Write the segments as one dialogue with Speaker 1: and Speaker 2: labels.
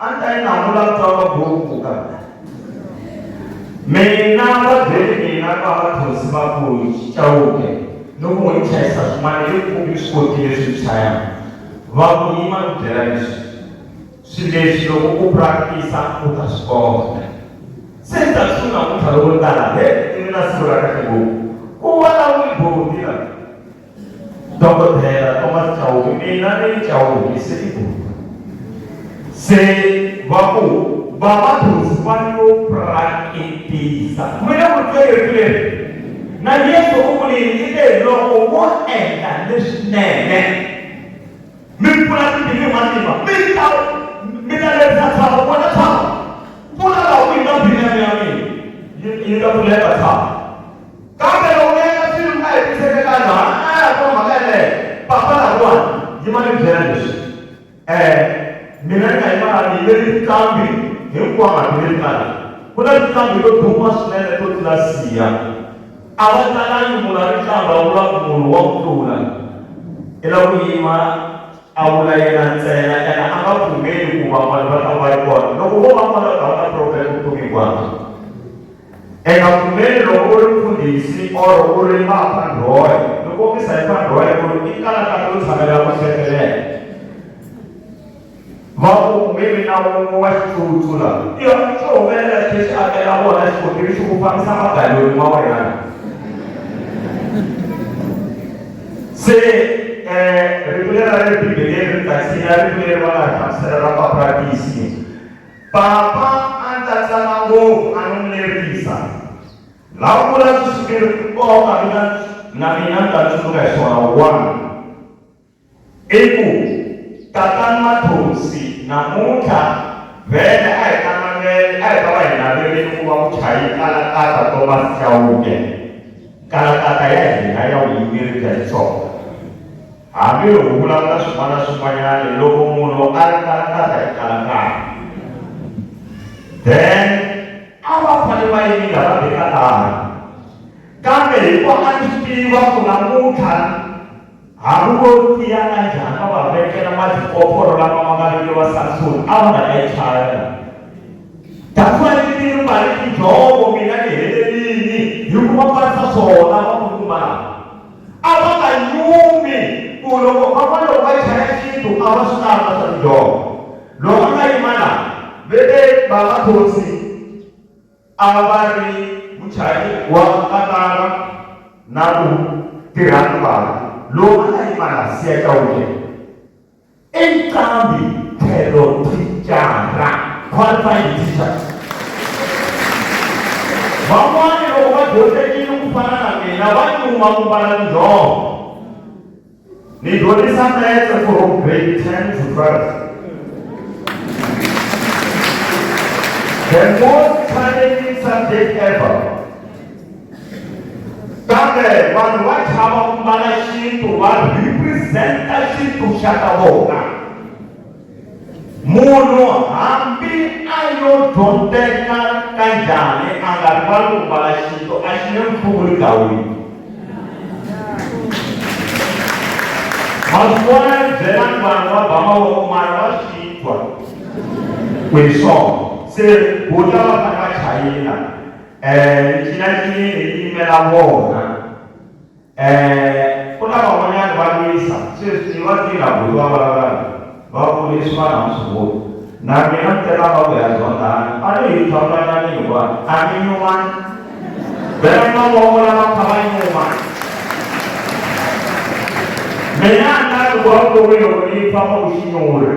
Speaker 1: a ni ta yi namula mutwa wa boku ka mina va byele mina va va thosi va ku chawuke ni ku n'wi chayisa swin'wana i kumbi swi kotile swi chaya va ku yima ni byela leswi swi leswi loko ku practice u ta swi kota se ni ta swi namuntlha loko ni tala he i mina siku ra kahle ngopfu ku vulavuli boti la Dokodela Thomas Chauke mina ni Chauke se i ku se va ku vamabindzu va yo praketisa mi le ku twereni leri na yesu u vulini i te loko wo endla leswinene mi pfula timbili hi matimba mi ta mi ta lerisa tshava vona tshava pfula laha ku yi nga binene ya mina yi nga pfuleka tshava Kambe loko mi endla swilo mi nga hetiseke tano, ha na a ya kuma mhaka yeleyo, papalata kona. Yima ni byela leswi, E, mina ni nga yima laha ni yimele tinqambi hinkwato leti nga laha. Ku na tinqambi to duma swinene to tlula Siya. A va talangi munhu a ri nqambi a vula ku munhu wa ku tlula. I la ku yima, a vula yena ntsena, ene a nga pfumeli ku van'wana va ta va ri kona. Loko vo va kona u ta va na problem vutomi hinkwabyo. eka pfumeli loko u ri mfundhisi or u ri maphandhoya ni kombisa hi phandhoya ku ri i kalakala yo tshamela ku hlekelela va ku nge vi na wun'we wa xitsutsula i swo humelela xi xi akela vona xikontiri xi ku fambisa magaloni ma wena se um rito leri ra le bibeleni ri ta tshinya rito leri va nga ri hlamusela ra papratisi Papa a ndzi ta tsana ngopfu a no n'wi lerisa. La u vula sweswi swi ri nkoka mina na mina ni ta tsundzuka hi swona. One i ku Tatana Mathonsi namuntlha vhele a hi ta navela a hi ta va hi naverile ku va muchayi kalakata Thomas Chauke, kalakata ya hina ya vuyimeri bya Xitsonga. Hambi u vulavula swin'wana na swin'wanyana loko munhu a ri karakata hi karakata then a va fane va yimile va beka laha kambe hi ku a swi tiva ku namuntlha hambi vo tiya ka njhani va va vekela matipophoro lama ma nga vekeriwa samsoni a va nga ta yi chayela that's why ndzi ti ri mali tinjhovo mina ni helelini hikuva va sa swona va ku kuma A va nga yumi ku loko van'wana va chaya xintu a va swi kamba swa tidyoho. Loko a nga yima laha, ve te bava Thonsi a va ri muchayi wa katara na ku tirha ni bava. Loko a nga yima laha, Siya Chauke Inqambi tlhelo thicara, qualified teacher. Van'wana loko va dyondzekile ku fana na mina va nyuma ku mbala tinjhovo. Ni dyondzisa metse from grade 10 to 12. The most challenging subject ever kambe vanhu va chava ku mbala xintu va representa xintu xa ka vona munhu hambi a yo dyondzeka ka njhani a nga rivali ku mbala xintu a xi nge mphuvuli gawini maswona byelani vanhu va ba mavoko mara va swi twa ku hi swona se buta va fanele va chayela Eh, ncila ncinyingi ciyimela bona. Eh, kuna van'wanyana va lwisa sweswi ni vatila buti va vulavulaka va kuriswa na musunguri na mina ni teka va ku ya zondhana a ni hi tlhavulanani hikuva a mi nyumani vela mavoko lava kha va nyuma mina a ni lavi ku va vutomi loko ni pfa va ku xinyuri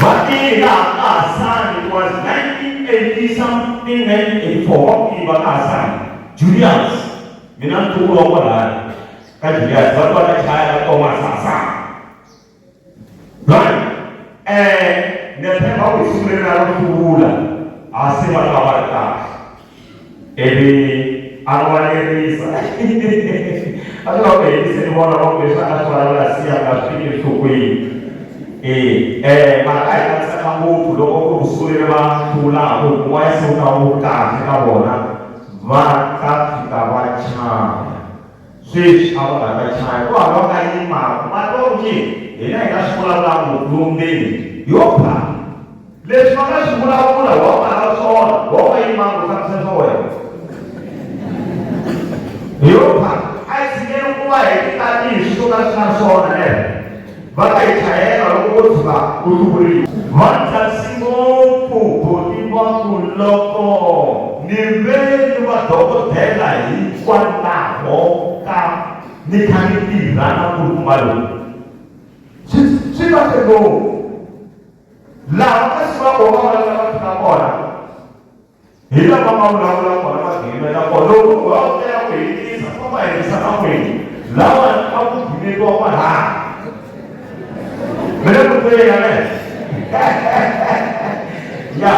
Speaker 1: Vatirha ka Hasani it was 1980 something 1984 vatirha ka Hasani Julius mina ntulo wa kwalaya ka Julius va va ka chaya ka Thomas Hasani right eh ne phepha ku sungula na ku hlula hasi va ka va ri kahle ivi a rivalerisa a swi nga ku helisi ni vona va ku leswi a swi vulavula siya nga swi fiki enhlokweni e um mhaka hi kanisaka ngopfu loko ku kusungulile va hlulaku hikuva yi suka wu kahle ka vona va ta fika va chava Sweswi a va nga ta chava ku hava va yimaku va twa onge hina hi nga swi vulavula ngopfu yo mbeni yo ba. Leswi va nga swi vulavula wa va lava swona, wa va yimaku u fambisa swa wena. Yo ba, a hi tshikeni ku va hi ti tanihi swi swo ka swi nga swona, neh? va ta yi chayela loko wo tshuka u hluvuriwa va tsarisi ngopfu boti va ku loko ni ve ni vadokodela hikwalaho ka ni kha ni tirha na nkulukumba lowu swi swi kahle ngopfu laha kasi va vona va lava fika kona hi lava nga vulavula kona va gimela kona loko va vutela ku hetisa va va hetisa ka n'wini lawa a ku gimeriwa kwalaya mina ku tele ya le ya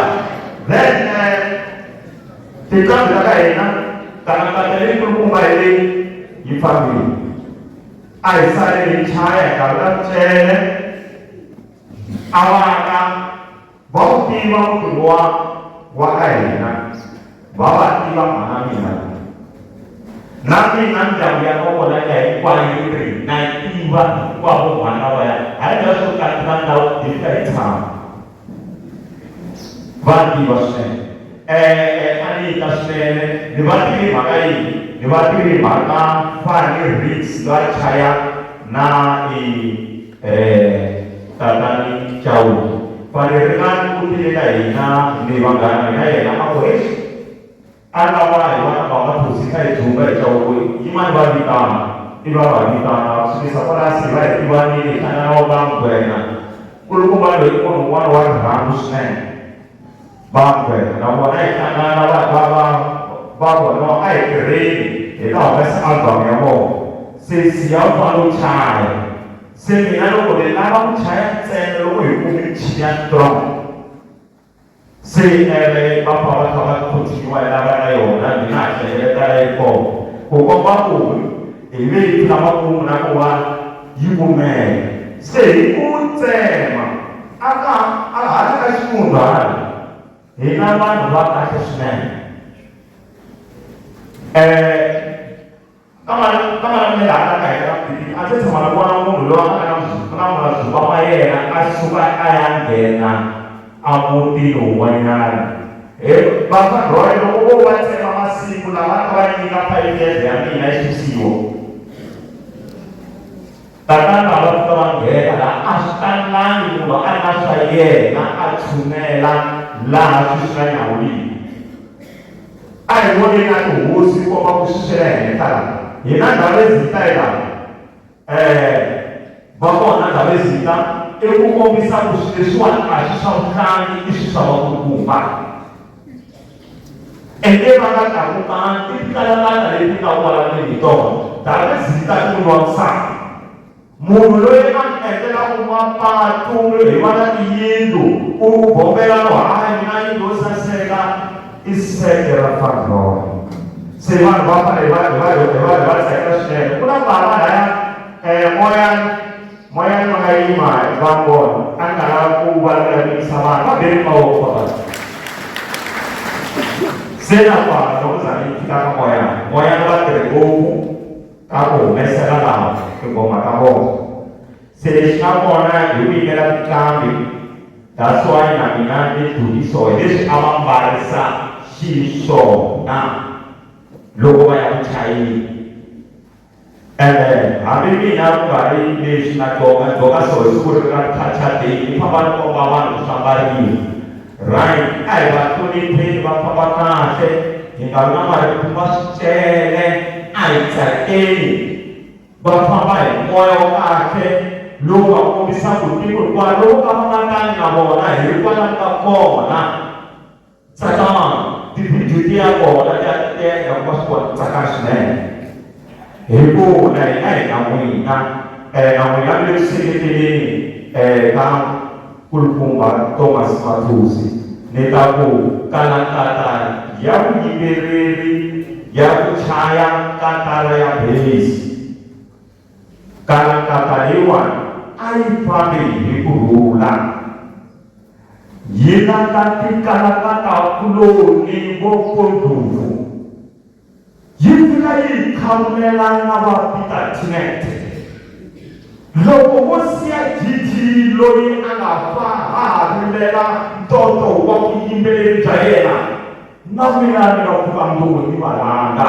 Speaker 1: then eh, tinqambi ta ka hina kanakata leyinkulukumba hi leyi yi fambile a hi sale hi chaya hi gavula mutshele awaka va wu tiva mfumo wa wa ka hina va va tiva mhana mina na mina ndyangu ya ka vona ya hinkwayo yi ri na tiva hinkwavo mhana va ya a yi nga swo kati na ndhawu hi fika hi tshama va tiva swinene um a ni yi ta swinene ni va tivi mhaka yini ni va tivi mhaka fani riks va chaya na i tatani Chauke va ri Ringani u tile ka hina ni vanghana ya yena a ku, Eish! A lava hi vana va Mathusi ka hi dzumba hi Chauke, yimani va vitana. Ivi a va vitana, va sukisa kwalaya se va hi tivanile hi hlangana va ku, Ngwenya nkulukumba loyi i munhu un'wana wa rirhandzu swinene. Vangwe na vona hi hlangana va va va va vona a hi tirheni hi ta humesa album ya vona se siya u fane u chaya se mina loko ni lava ku chaya ntsena loko hi kume michini ya strong se ene va fa va kha va continue hi lava na yona ni nga ha hlengeleta leyi kona ku komba ku hi ve hi tlhava ku na ku va yi kumeka se hi ku tsema A ka a ha ri ka ximunhwana, hi na vanhu va kahle swinene. Kambe kambe laha ka ka hina Bibele a ndzi se tshama ni vona munhu loyi a nga na ku na mazukwa ma yena a suka a ya nghena emutini wun'wanyana. He Pastor Roy loko vo va tsema masiku lama a va nyika five years ya mina yi susiwa. Tatana a va fika va nghena laha a swi talangi munhu a ri na swa yena a tshunela laha swi swi nga nyawuliki a hi voneni a tihosi komba ku xixela henhla laha hina ndhawu ezita yi laha um va kona ndhawu ezita i ku kombisa ku swi leswiwani a swi swa vutlangi i swi swa vakulukumba Ende va nga ta kumanga i tinkalamata leti nga kwalani hi tona. Davhidhi ta ni n'wini wa nsati. Munhu loyi a mi endlelaka mapatu mi rhivana tiyindlu, u bombela no haha mina yindlu yo saseka, i seke ra Fandhori. Se vanhu va fanele va va va va tsakela swinene. Ku na bava laya, Moyan. Moya lowo nga yima hi va vona a nga ha ku va lulamisa vanhu va beri mavoko va vanhu se na kwala loko za ni fika ka moya moya lowo va tirhi ngopfu ka ku humesela lava tingoma ta vona se lexi nga kona hi ku yimela tinqambi that's why na mina ni duriso hi leswi a va mbarisa xiswona loko va ya ku chayeni Eh, hambi mina ku nga ri leswi na dyonga dyonga so hi siku ri ra culture day ni famba ni komba vanhu ku famba rini right a hi va hlonipheni va famba kahle hi nga vi na marito va swi tele a hi tsakeni va famba hi moya wa kahle lowu nga kombisaka ku tiko hikuva lowu ka va nga tani na vona hi ri kwala ni nga kona tsakama tivhidiyo ti ya kona ti ya ti ya endla ku va swi kona ku tsaka swinene hi ku na hina hi na n'wina um na n'wina mi le ku seketeleni um ka kulukumba thomas mathusi ni ta ku kala nkatara ya vuyimbeleri ya ku chaya katara ya bhesi Kalakata leyiwani a yi fambi hi ku rhula, yi landza tikalakatakuloni vo Kondlovu, yi fika yi yi khavulela na va Peter Tinete. Loko wo siya Gigi loyi a nga fa ha ha rilela ntoto wa vuyimbeleri bya yena, na mina ni nga pfuka ndlopho ni va rhanga.